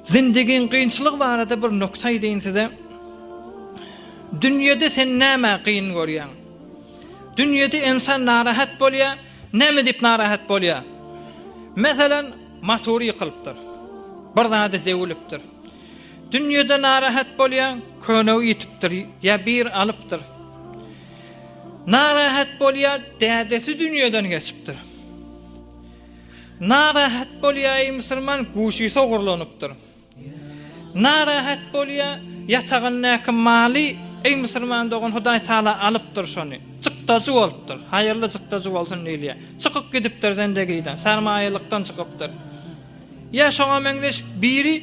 Zindigiň gynçylygy barada bir nokta aýdaýyn size. Dünýede sen näme gyn görýäň? Dünýede insan narahat bolýa, näme diýip narahat bolýa? Meselem, motor ýykylypdyr. Bir zady dewilipdir. Dünýede narahat bolýa, köne ýitipdir ýa bir alypdyr. Narahat bolýar, dädesi dünýeden geçipdir. Narahat bolýaý musulman guşysy ogurlanypdyr. Narahat bolýar, ýatagyndaky maly eý musulman dogan Hudaý Taala alypdyr şony. Çykdajy bolupdyr. Haýyrly çykdajy bolsun diýilýär. Çykyp gidipdir zendegiden, sarmaýalykdan çykypdyr. Ýa şoňa meňzeş biri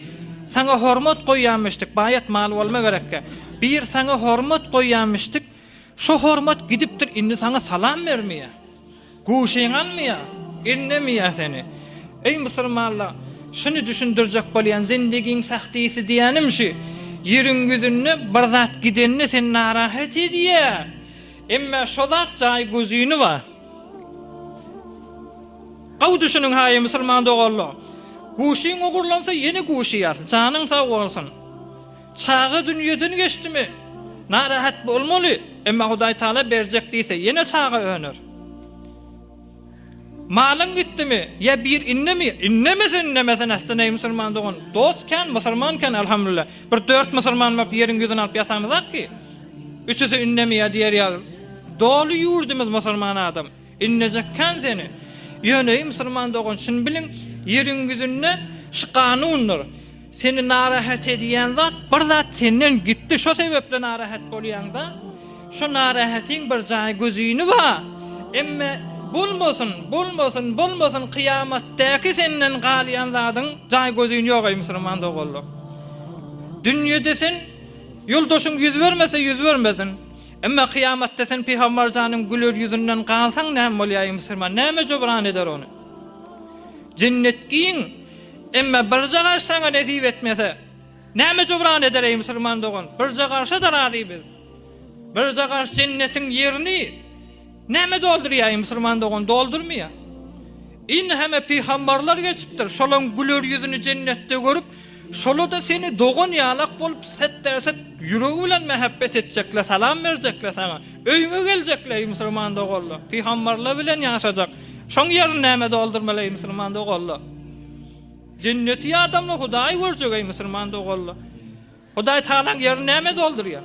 saňa hormat goýýamyşdyk, baýat mal bolma gerekkä. Bir saňa hormat goýýamyşdyk, şo hormat gidipdir, indi saňa salam bermeýä. Guşyňy almaýa, indemeýä seni. Eý musulmanlar, şuny düşündirjek bolýan, zindigiň sahtisy diýänim şü, ýeriň ýüzünde bir zat gidende seni narahat edýä, emmä şo zat jaý gözüni bar. Gowy düşüniň haýy musulman doganlar. Guşyň ogurlansa ýene guşýar. Janyň sag bolsun. Çaga dünýeden geçdimi? Narahat bolmaly. Emma Hudaý Taala berjek diýse ýene çaga öner. Malyň gitdimi? Ýa bir indemi? Indemesin indemesin asdyn eý musulman dogan. Dost kän musulman kän Alhamdulillah. Bir dört musulman bolup ýeriň ýüzüni alyp ýatamyzak ki. Üçüsi indemi ýa diýer ýaly. Doly ýurdumyz musulman adam. Innejek kän seni. Ýöneý musulman dogan şuny biliň ýeriň ýüzünde şu kanundyr. Seni narahat edýän zat bir zat senden gitdi şo sebepli narahat bolýaňda. Şo narahatiň bir jaý gözini ba. Emme bolmasyn bolmasyn bolmasyn kyýamatdaki senden galýan zadyň jaý gözin ýok eý musulman doganlar. Dünýede sen ýoldaşyň ýüz bermese ýüz bermesin. Emma kyýamatda sen pygambar janyň güler ýüzünden galsaň näme bolýaýy musulman näme jubran eder ony? Jennet giň, emma birje garş saňa nesip etmese, näme jubran eder eý musulman dogan? Birje garşa-da razy biz. Birje garş jennetiň ýerini näme doldurýaýy musulman dogan doldurmaýa. Indi heme pygambarlar geçipdir, şolaň güler ýüzüni jennetde görüp, Şolada seni dogan ýalak bolup setdäset ýüregi bilen mähebbet etjekler salam berjekler saňa öýüňe geljekler eý musulman doganlar pygambarlar bilen ýaşajak şoň ýerini näme doldurmaly eý musulman doganlar jenneti adamlar hudaýy görjek eý musulman doganlar hudaý tagalaň ýerini näme doldurýar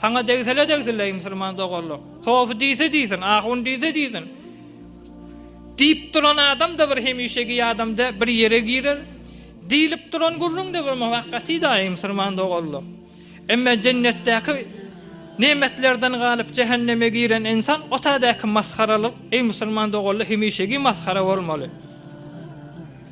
Saňa degsele degsile eý musulman doganlar. Sofi diýse diýsin, ahun diýse diýsin. Diýip duran adamda bir hemişegi adamda bir ýere girer. Diýlip duran gürrüňde bir muwakkatyda eý musulman doganlar. Emma jennetdäki nemetlerden galyp jähenneme giren insan otadaky masgaralyk eý musulman doganlar hemişegi masgara bolmaly.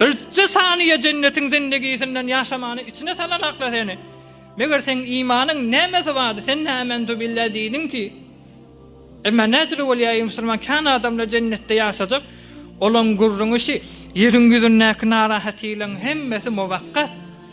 Birje saniýe jennetiň zindegisinden ýaşamany içine salanakla seni. Meger seň imanyň nämesi bardy, sen nämentu billah diýdiň ki? Emma näcele bolýa eý musulman kän adamlar jennetde ýaşajak, olaň gürrüňi şi, ýeriň ýüzündäki narahatylygyň hemmesi mowakkat.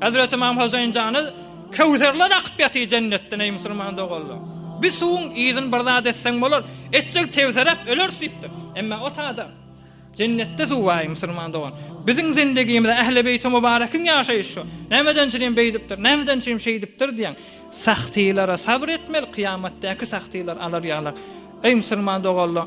Hezret Ymam Hoseýin jany Köwserler akyp ýatyr jennetden eý musulman doganlar. Bi suwuň yzyn bir zat etseň bolar, etjek tewseräp öleris diýipdir. Emma ot adam. Jennetde suw bar eý musulman dogan. Biziň zindegimizde Ähli beýti mubarekiň ýaşaýyş şu. Nämeden çirim beýdipdir, nämeden çirim şeýdipdir diýen sahtylara sabr etmeli, kyýamatdäki sahtylar alar ýalar. Eý musulman doganlar!